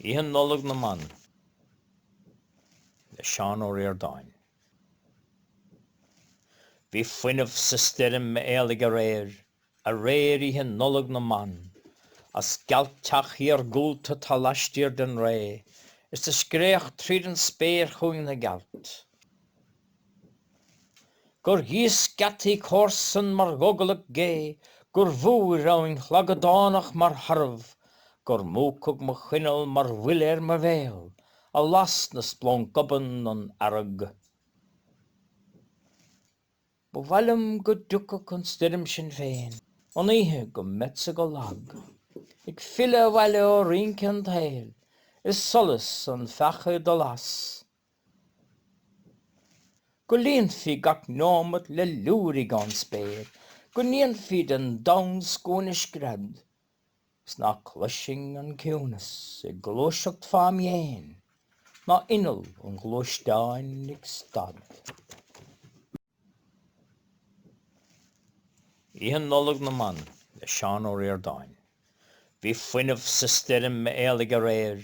Oíche Nollag na mBan le Seán Ó Ríordáin. Bhí fuinneamh sa stoirm a éalaigh aréir, Aréir Oíche Nollag na mBan, As gealt-teach iargúlta 'tá laistiar den ré, Is a scréach tríd an spéir chugainn na gealt. gur ghíosc geataí comharsan mar ghogallach gé, gur bhúir abhainn shlaghdánach mar tharbh, gur múchadh mo choinneal mar bhuille ar mo bhéal, a las na splanc obann an fhearg. Ba mhaith liom go dtiocfadh an stoirm sin féin, an oíche go mbeadsa go lag, ag filleadh abhaile ó rince an tsaoil, is solas an pheaca ag dul as Go líonfaí gach neomat le liúirigh ón spéir, go ndéanfaí den domhan scuaine scread, 'S ná cloisfinn an ciúnas ag gluaiseacht fám' dhéin, ná inneall an ghluaisteáin ag stad. Oíche Nollag na mBan le Seán Ó Ríordáin Bhí fuinneamh sa stoirm a éalaigh aréir,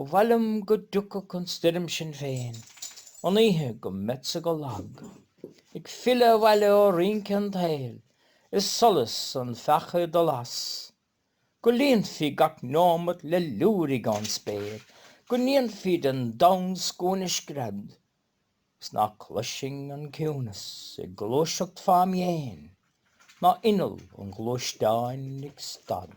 Ba mhaith liom go dtiocfadh an stoirm sin féin an oíche go mbeadsa go lag, Ag filleadh abhaile ó rince an tsaoil is solas an pheaca ag dul as, Go líonfaí gach neomat le liúirigh ón spéir, go ndéanfaí den domhan scuaine scread, Is ná cloisfinn an ciúnas ag gluaiseacht fám' dhéin, ná inneall an ghluaisteáin ag stad.